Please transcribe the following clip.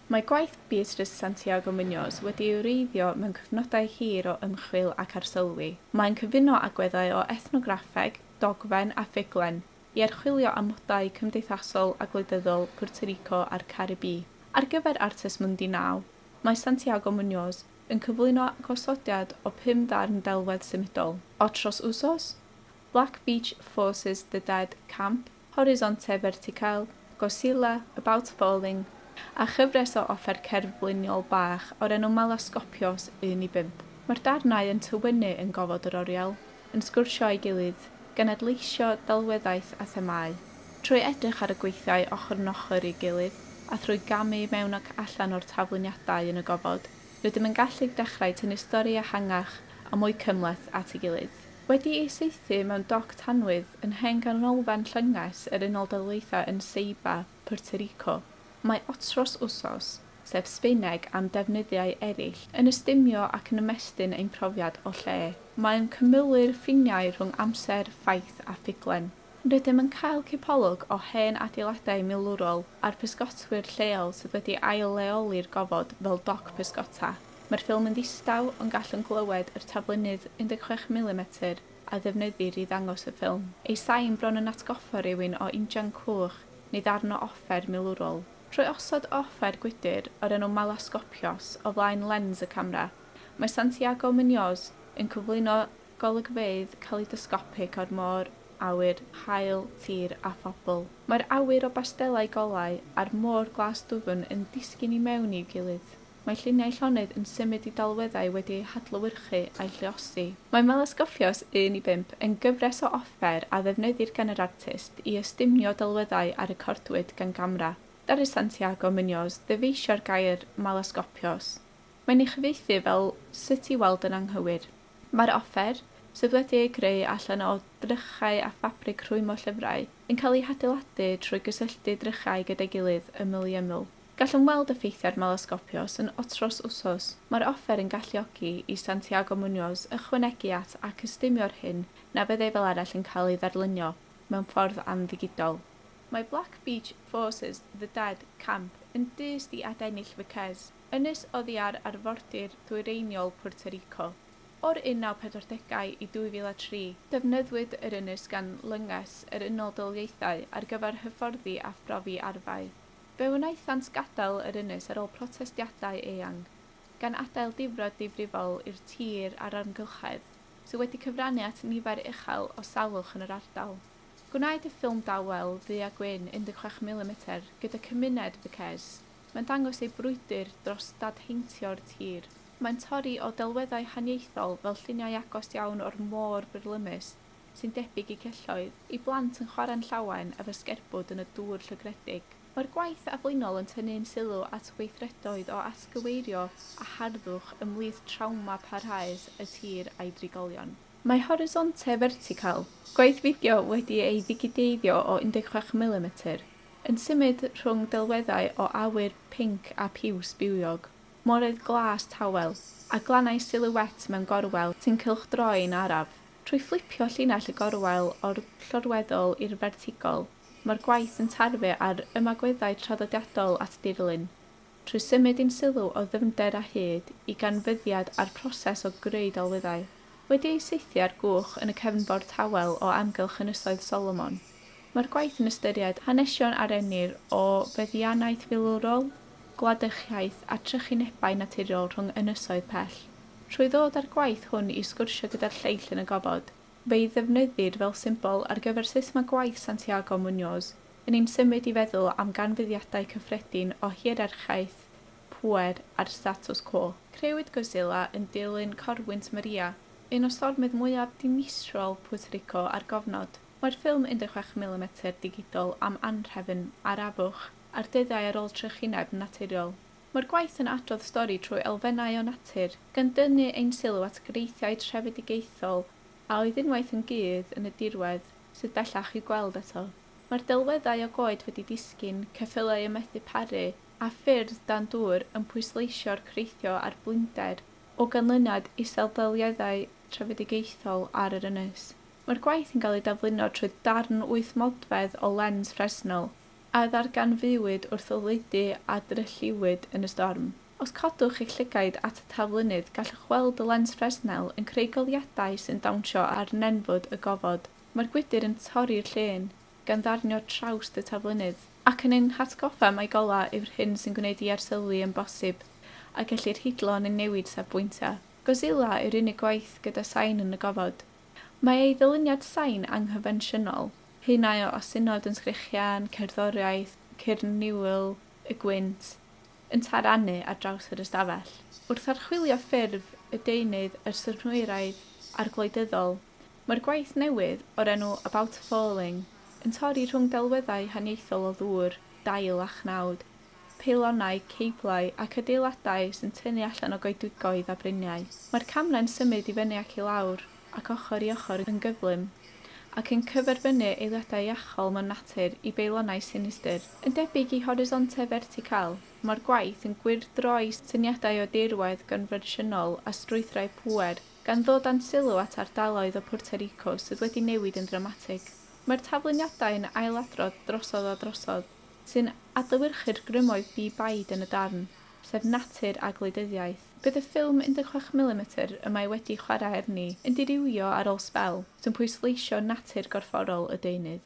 Mae gwaith Beatrice Santiago Muñoz wedi ei wreiddio mewn cyfnodau hir o ymchwil ac arsylwi. Mae'n cyfuno agweddau o ethnograffeg, dogfen a ffuglen i archwilio amodau cymdeithasol a gwleidyddol Puerto Rico a'r Caribî. Ar gyfer Artes Mundi Now, mae Santiago Muñoz yn cyflwyno gosodiad o pum darn delwedd symudol. Otros Usos, Black Beach Forces The Dead Camp, Horizonte Vertical, Godzilla, About Falling, a chyfres o offer cerdd bliniol bach o'r enw Malaskopios 1 i 5. Mae'r darnau yn tywynnu yn gofod yr oriel, yn sgwrsio â'i gilydd, gan adleisio delweddaeth a themâu. Trwy edrych ar y gweithiau ochr yn ochr i'w gilydd, a thrwy gamu i mewn ac allan o'r tafluniadau yn y gofod, rydym yn gallu dechrau tynnu stori ehangach a mwy cymhleth at ei gilydd. Wedi'i saethu mewn doc tanwydd yn hen ganolfan llynges yr Unol Daleithiau yn Ceiba, Puerto Rico, mae otros Usos, sef Sbaeneg am defnyddiau eraill, yn ystumio ac yn ymestyn ein profiad o lle. Mae'n cymylu'r ffiniau rhwng amser, ffaith a ffuglen. Rydym yn cael cipolwg o hen adeiladau milwrol a'r pysgotwyr lleol sydd wedi ail-leoli'r gofod fel doc pysgota. Mae'r ffilm yn ddistaw, ond gallwn glywed yr taflennydd 16 milimetr a ddefnyddir i ddangos y ffilm. Ei sain bron yn atgoffa rhywun o injan coch neu ddarn o offer milwrol. Trwy osod y offer gwydr, o'r enw malaskopios, o flaen lens y camera, mae Santiago Muñoz yn cyflwyno golygfeydd kaleidoscopic o'r môr, awyr, haul, tir a phobl. Mae'r awyr o bastelau golau a'r môr glas dwfn yn disgyn i mewn i'w gilydd. Mae lluniau llonydd yn symud i delweddau wedi eu hadlewyrchu a'u lluosi. Mae Malaskofios un i bump yn gyfres o offer a ddefnyddir gan yr artist i ystumio delweddau a recordwyd gan gamera. Ddaru Santiago Muñoz ddyfeisio'r gair 'malaskopios'. Mae'n ei chyfieithu fel 'sut i weld yn anghywir'. Mae'r offer, sydd wedi ei greu allan o drychau a ffabrig rhwymo llyfrau, yn cael ei hadeiladu trwy gysylltu drychau gyda'i gilydd ymyl i ymyl. Gallwn weld effeithiau'r Malaskopios yn Otros Usos. Mae'r offer yn galluogi i Santiago Muñoz ychwanegu at ac ystumio'r hyn na fyddai fel arall yn cael ei ddarlunio mewn ffordd amddigidol. Mae Black Beach Forces, The Dead, Camp, yn dyst i adennill fy ces. Ynys oddi ar arfordir ddwyreiniol Puerto Rico. O'r 1940au i 2003, defnyddiwyd yr ynys gan Lynges yr Unol Daleithiau ar gyfer hyfforddi a phrofi arfau. Fe wnaethant gadael yr ynys ar ôl protestiadau eang, gan adael difrod difrifol i'r tir a'r amgylchedd, sydd wedi cyfrannu at nifer uchel o salwch yn yr ardal. Gwnaed y ffilm dawel, ddu a gwyn, 16 milimetr, gyda cymuned Vacques. Mae'n dangos ei brwydr dros dadheintio'r tir. Mae'n torri o delweddau haniaethol fel lluniau agos iawn o'r môr byrlymus, sy'n debyg i celloedd, ei blant yn chwarae'n llawen efo sgerbwd yn y dŵr llygredig. Mae'r gwaith aflinol yn tynnu'n sylw at weithredoedd o atgyweirio a harddwch ymhlith trawma parhaus y tir a'i drigolion. Mae Horizonte Vertical, gwaith fideo wedi ei ddigideiddio o 16 milimetr, Yn symud rhwng delweddau o awyr pinc a phiws bywiog, moreydd glas tawel, a glannau silhouette mewn gorwel sy'n cylchdroi'n araf. Trwy fflipio llinell y gorwel o'r llorweddol i'r fertigol, mae'r gwaith yn tarfu ar ymagweddau traddodiadol at dirlun, Trwy symud ein sylw o ddyfnder a hyd i ganfyddiad a'r proses o greu delweddau, wedi eu saethu ar gwch yn y cefnfor tawel o amgylch Ynysoedd Solomon, mae'r gwaith yn ystyried hanesion a rennir o feddiannaeth filwrol, gwladychiaeth a trychinebau naturiol rhwng ynysoedd pell. Trwy ddod â'r gwaith hwn i sgwrsio gyda'r lleill yn y gofod, Fe'i ddefnyddid fel symbol ar gyfer sut mae gwaith Santiago Muñoz yn ein symud i feddwl am ganfyddiadau cyffredin o hierarchaeth, pŵer a'r status quo. Crëwyd Godzilla yn dilyn corwynt Maria, un o stormydd mwyaf dinistriol Puerto Rico ar gofnod. Mae'r ffilm 16 milimetr digidol am anhrefn arafwch a'r dyddiau ar ôl trychineb naturiol. Mae'r gwaith yn adrodd stori trwy elfennau o natur, gan dynnu ein sylw at greithiau trefedigaethol a oedd unwaith yn gudd yn y dirwedd, sydd bellach i'w gweld eto. Mae'r delweddau o goed wedi disgyn, ceffylau yn methu paru, a ffyrdd dan dŵr yn pwysleisio'r creithio a'r blinder, o ganlyniad i sefydliadau trefedigaethol ar yr ynys. Mae'r gwaith yn cael ei dafluno trwy darn wyth modfedd o lens fresnel, a ddarganfuwyd wrth oleudy a drylliwyd yn y storm. Os codwch eich llygaid at y taflunydd, gallwch weld y lens Fresnel yn creu goleuadau sy'n dawnsio ar nenfwd y gofod. Mae'r gwydr yn torri'r llên, gan ddarnio trawst y taflunydd, ac yn ein hatgoffa mai golau yw'r hyn sy'n gwneud i arsylwi yn bosib, a gellir hidlo neu newid safbwyntiau. Godzilla yw'r unig gwaith gyda sain yn y gofod. Mae ei ddyluniad sain anghyffensiynol, Haenau o osynod yn sgrechian, cerddoriaeth, cyrn niwl, y gwynt, yn tarannu ar draws yr ystafell. Wrth archwilio ffurf y deunydd a'r synhwyraidd arglwyddyddol, mae'r gwaith newydd, o'r enw About Falling, yn torri rhwng delweddau haniaethol o ddŵr, dail a chnawd, peilonau, ceiblau, ac adeiladau sy'n tynnu allan o goedwigoedd a briniau. Mae'r camrau'n symud i fyny ac i lawr. ac ochr i ochr yn gyflym, ac yn cyferbynnu eiliadau iachol mewn natur i beilonau sinistr. Yn debyg i horisontau fertical, mae'r gwaith yn gwyrdroi syniadau o dirwedd gonfensiynol a strwythurau pŵer, gan ddod â'n sylw at ardaloedd o Puerto Rico sydd wedi newid yn ddramatig. Mae'r tafluniadau yn ailadrodd drosodd a drosodd, sy'n adlewyrchu'r grymoedd di-baid yn y darn, sef natur a gwleidyddiaeth. Bydd y ffilm 16 milimetr y mae wedi chwarae arni yn dirywio ar ôl sbel, sy'n pwysleisio natur gorfforol y deunydd.